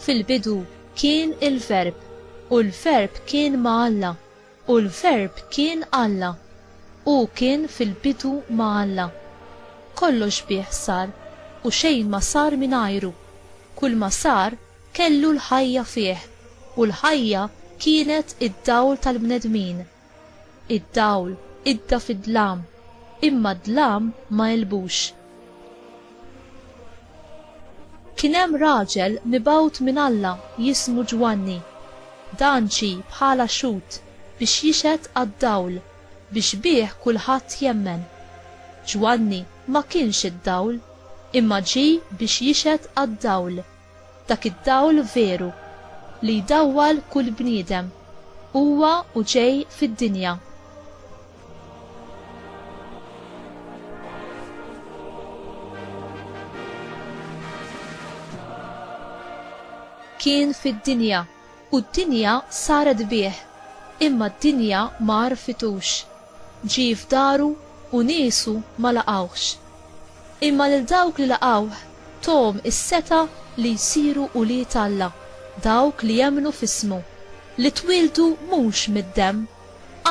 Fil-bidu kien il-Verb, u l-Verb kien ma' Alla, u l-Verb kien Alla. Hu kien fil-bidu ma' Alla. Kollox bih sar, u xejn ma sar mingħajru. Kull ma sar Kellu l-ħajja fih, u l-ħajja kienet id-dawl tal-bnedmin. Id-dawl idda fid-dlam, imma d-dlam ma għelbux. Kien hemm raġel mibgħut minn Alla jismu Ġwanni. Dan ġie bħala xhud biex jixhed għad-dawl, biex bih kulħadd jemmen. Ġwanni ma kienx id-dawl, imma ġie biex jixhed għad-dawl. Dak id-dawl veru, li jdawwal kull bniedem, huwa u ġej fid-dinja. Kien fid-dinja. U d-dinja saret bih, imma d-dinja ma għarfitux. Ġie f'daru u niesu ma laqgħuhx. Imma lil dawk li laqgħuh tahom is-setgħa li jsiru ulied Alla, dawk li jemmnu f'ismu, li twieldu mhux mid-demm,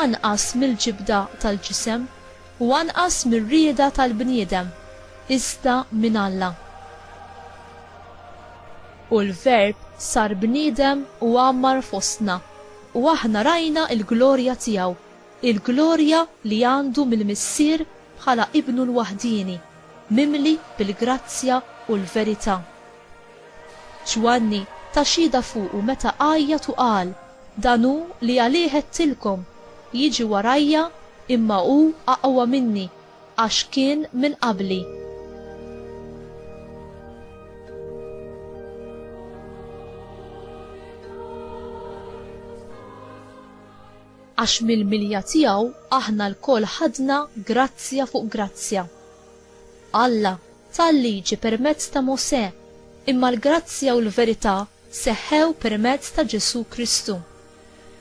anqas mill-ġibda tal-ġisem, u anqas mir-rieda tal-bniedem, iżda minn Alla. U l-Verb sar bniedem u għammar fostna, u aħna rajna l-glorja tiegħu, il-glorja li għandu mill-Missier bħala Ibnu l-waħdieni, mimli bil-grazzja u l-verità. Ġwanni ta xhieda fuqu meta għajjat u qal, Dan hu li għalih għedtilkom, Jiġi warajja, imma hu aqwa minni, Għax kien minn qabli. Għax mill-milja tiegħu aħna lkoll ħadna grazzja fuq grazzja. Alla ta l-Liġi permezz ta' Mosè, imma l-grazzja u l-verità seħħew permezz ta' Ġesù Kristu.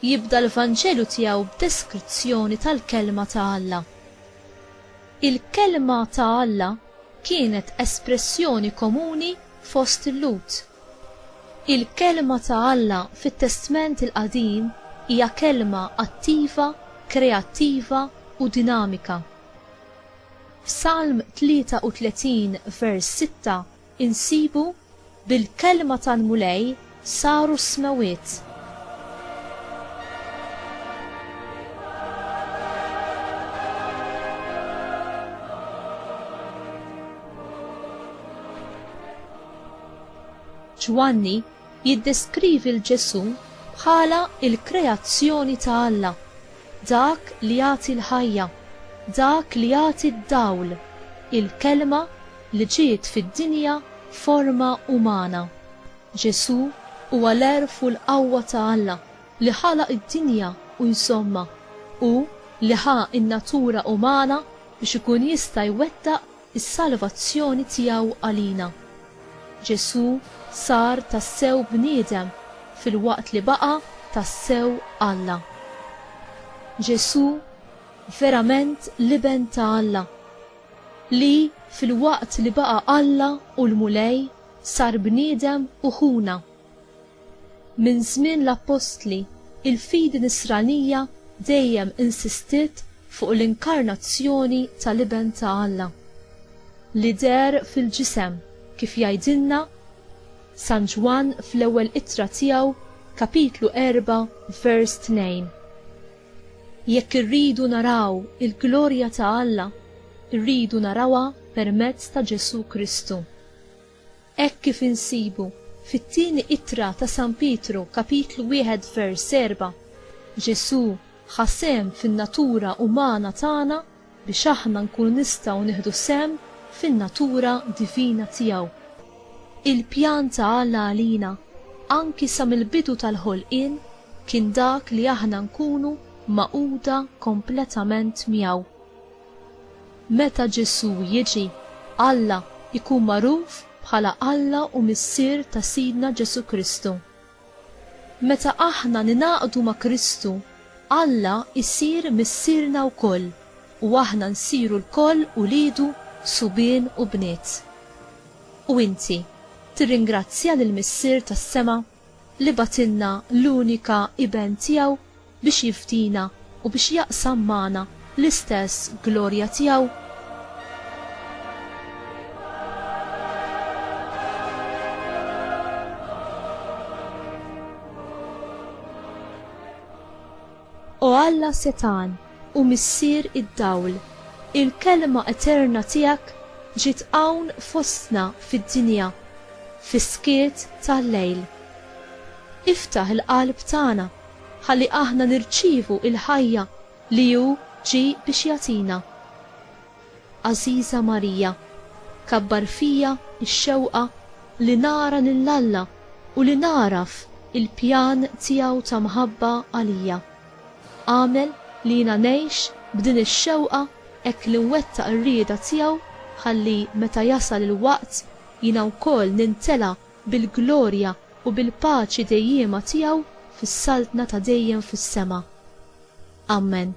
Jibda l-Vanġelu tiegħu b'deskrizzjoni tal-Kelma ta' Alla. Il-Kelma ta' Alla kienet espressjoni komuni fost il-Lhud. Il-Kelma ta' Alla fit-Testment il-Qadim hija kelma attiva, kreattiva u dinamika. F'Salm 33 vers 6 Insibu, Bil-kelma tal-Mulej saru s-smewwiet. Ġwanni jiddeskrivi 'l Ġesù bħala l-kreazzjoni ta' Alla, dak li jagħti l-ħajja, dak li jagħti d-dawl, il-Kelma li ġiet fid-dinja f'forma umana. Ġesù huwa l-għerf u l-qawwa ta' Alla li ħalaq id-dinja u jżommha. Hu li ħa n-natura umana biex ikun jista' jwettaq is-salvazzjoni tiegħu għalina. Ġesù sar tassew bniedem filwaqt li baqa' tassew Alla. Ġesù verament l-Iben ta' Alla. li, filwaqt li baqa' Alla u l-Mulej, sar bniedem u ħuna. Minn żmien l-appostli, il-fidi Nisranija dejjem insistiet fuq l-inkarnazzjoni tal-Iben ta' Alla, li deher fil-ġisem, kif jgħidilna San Ġwann fl-Ewwel Ittra tiegħu, kapitlu erbgħa, vers tnejn. Jekk irridu naraw il-glorja ta' Alla, irridu narawha permezz ta' Ġesù Kristu. Hekk kif insibu fit-Tieni Ittra ta' San Pietru kapitlu wieħed vers erbgħa, Ġesù ħa sehem fin-natura umana tagħna biex aħna nkunu nistgħu nieħdu sehem fin-natura divina tiegħu. Il-pjan ta' Alla għalina, anki sa mill-bidu tal-ħolqien, kien dak li aħna nkunu magħquda kompletament miegħu. Meta Ġesù jiġi, Alla jkun magħruf bħala Alla u Missier ta' Sidna Ġesù Kristu. Meta aħna ningħaqdu ma' Kristu, Alla jsir Missierna wkoll u aħna nsiru lkoll uliedu subien u bniet. U inti tirringrazzja lill-Missier tas-sema li bagħtilna l-unika Iben tiegħu? biex jifdina u biex jaqsam magħna l-istess glorja tiegħu? O Alla setan u missier id-dawl, il-kelma eterna tiegħek ġiet hawn fostna fid-dinja fis-skiet tal-lejl. Iftaħ il-qalb tagħna ħalli aħna nirċievu il-ħajja li hu ġie biex jagħtina. Għażiża Marija, kabbar fija x-xewqa li nara lil Alla u li nagħraf il-pjan tiegħu ta' mħabba għalija. Agħmel li jiena ngħix b'din ix-xewqa hekk li nwettaq ir-rieda tiegħu ħalli meta jasal il-waqt jiena wkoll nintela' bil-glorja u bil-paċi dejjiema tiegħu fis-saltna ta' dejjem fis-sema. Ammen.